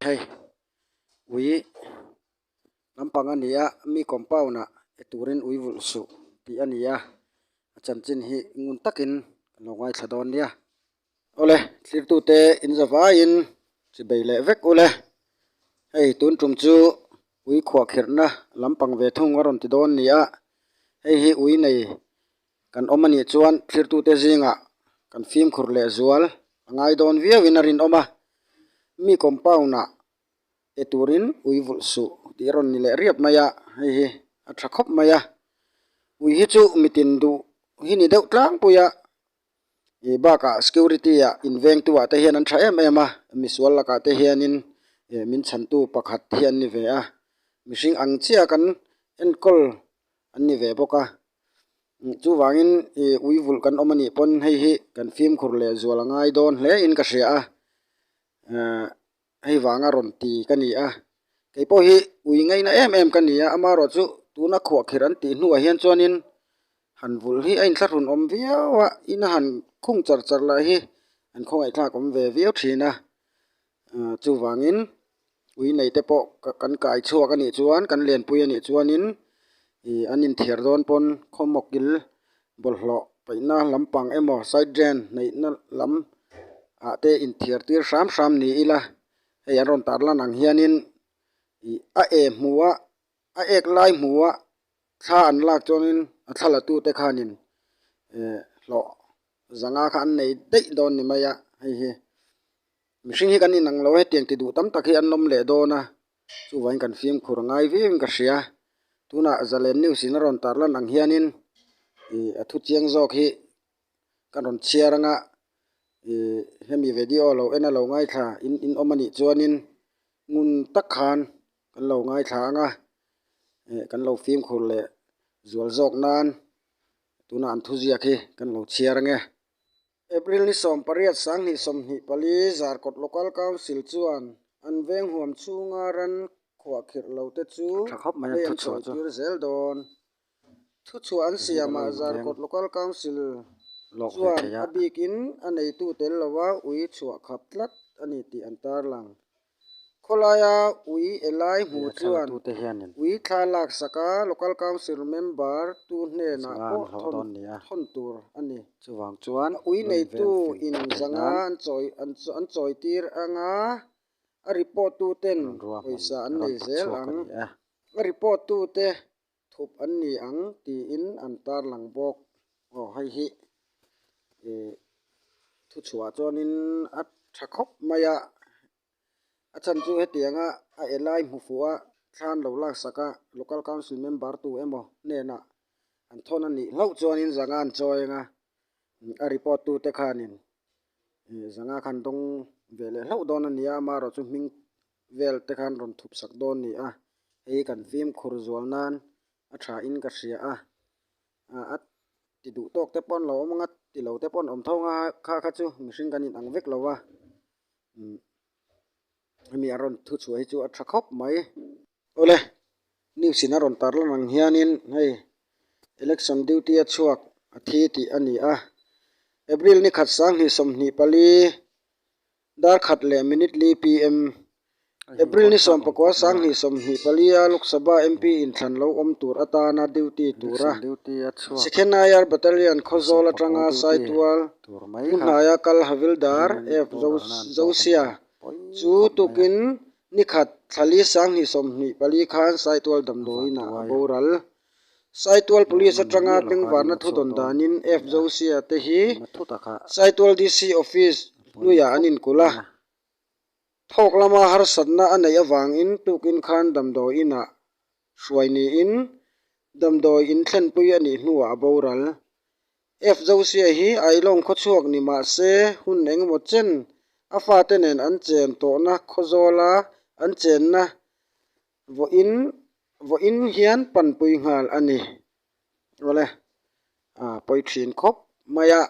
hei ui lampang a ni a mi compound ah e turin ui vulh suh tih a ni a a chanchin hi ngun takin lo ngaithla dawn nia. Awle, tlirtute inza vaiin chi bei leh vek u le. Hei tun tum chu ui khuah kherhna lam pang ve thung a rawn ti dawn nia, hei hi ui nei kan awm anih chuan tlirtute zingah kan fimkhur leh zual a ngai dawn viauin a rinawm a, mi compound-ah pe turin ui vulh suh tih a rawn ni leh riap mai a, hei hi a tha khawp mai a, ui hi chu mitin duh hi ni deuh tlangpuia ih bakah security ah invengtu ah te hian an tha em em a mi sual lakah te hianin ih min chhantu pakhat hian ni ve a mihring ang chiah an enkawl an ni ve bawk a chuvangin ih uivulh kan awm anih pawn hei hi kan fimkhur leh zual a ngai dawn hle in ka hria a ahh-- Hei vang a rawn ti ka ni a, kei pawh hi ui ngaina em em ka ni a, ama erawh chu tuna khuah khirh an tih hnuah hian chuanin han vulh hi a in thlahrun awm viau a, in a han khung char char lah hi an khawngaihthlak awm ve viau thin a, aah chuvangin ui nei te pawh kan kai chhuak a nih chuan kan lenpui a nih chuanin ih an inthiar dawn pawn khawmawk il bawlhhlawh paihna lampang emaw side drain hnaihna lam ah te inthiar tir hram hram ni ila hei an rawn tar lan ang hianin ih a e hmu a a ek lai hmu a thla an lak chuangin a thla la tute khanin eh hlawh zanga kha an nei daih dawn ni mai a hei hi. Mihring hi kan inang lo, hetiang ti duh tam tak hi an lawm leh dawn a, chuvangin kan fimkhur a ngai viau in ka hria. Tunah Zalen News in a rawn tarlan ang hianin ih a thu chiang zawk hi ka rawn chhiar anga ih hemi vedio lo en a lo ngaithla in in awm anih chuanin ngun tak khan kan lo ngaithla anga eh kan lo fimkhur leh zual zawk nan tunah an thuziak hi kan lo chhiar ange. April ni sawm pariat sanghnih sawmhnih pali Zarkawt Local Council chuan an veng huam chhunga ran khuah khirh lo te chu vei an chhawi tir zel dawn. Thu chhuah an siam ah Zarkawt Local Council chuan a bikin a nei tu tel lo a ui chhuah khap tlat a ni tih an tarlang. Khawlaia Ui Elai Hmu chuan Ui thla lak saka Local Council Member tu hnenah pawh thawn tur a ni. A ui neitu in zanga an chawitir ang a, a report tu ten pawisa an nei zel ang. A report tute Thup an ni ang tiin an tarlang bawk. Aw hei hi ihh thuchhuah chuanin a tha khawp mai a, a chhan chu hetiang a, a elai hmu fuh a thlan lo laksak a, local council member tu emaw hnenah an thawn a nih hlauh chuanin zanga an chawi anga, a report tute khanin zanga khan dawng ve leh hlauh dawn a nia, amaherawhchu hming-- vel te khan rawn thup sak dawn ni a, hei hi kan fimkhur zual nan a tha in ka hria a, ah a ti duh tawk te pawh an lo awm ang a, ti lo te pawh an awm tho ang a kha kha chu mihring kan inang vek lo a, umm hemi a rawn thu chhuah hi chu a tha khawp mai. Awle news in a rawn tar lan ang hianin hei election duty a chhuak a thi tih a ni a, April ni khat sang hnih sawm hnih pali Darkhat leh Minute Li PM, April ni sawmpakua sang hnih sawmhnih palia Lok Sabha MP inthlan lo awm tur atana duty tura Second IR Battalion Khawzawl atanga saitual pu hnaia kal Havildar F Josia chu tukin nikhat thlali sang hnih sawmhnih pali khan saitual damdawiinah a boral Saitual Police atanga pengvarna thudawn danin FJOCIA te hi Saitual DC Office hnuiah an inkulh a. Thawk lama harsatna a neih avangin tukin khan damdawi inah hruai niin damdawi in thlenpui a nih hnuah a boral. FJOCIA hi Ailawng khawchhuak ni mahse hun engemaw chen a fate nen an chen tawhna khawzawla an chenna Vawiin vawiin hian panpui nghal a ni awle ah pawi thin khawp mai a,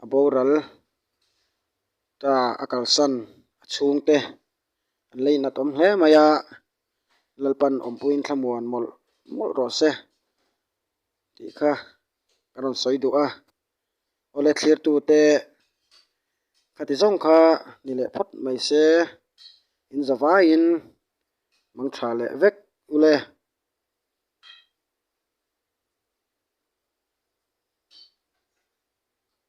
a boral ta a kalsan a chhung te an la inat awm hle mai a, Lalpan awmpuiin thlamuan mawlh mawlh rawh se tih kha ka rawn sawi duh a. Awle thlirtute khati zawng kha ni leh phawt mai se in za vaiin mang tha leh vek ule.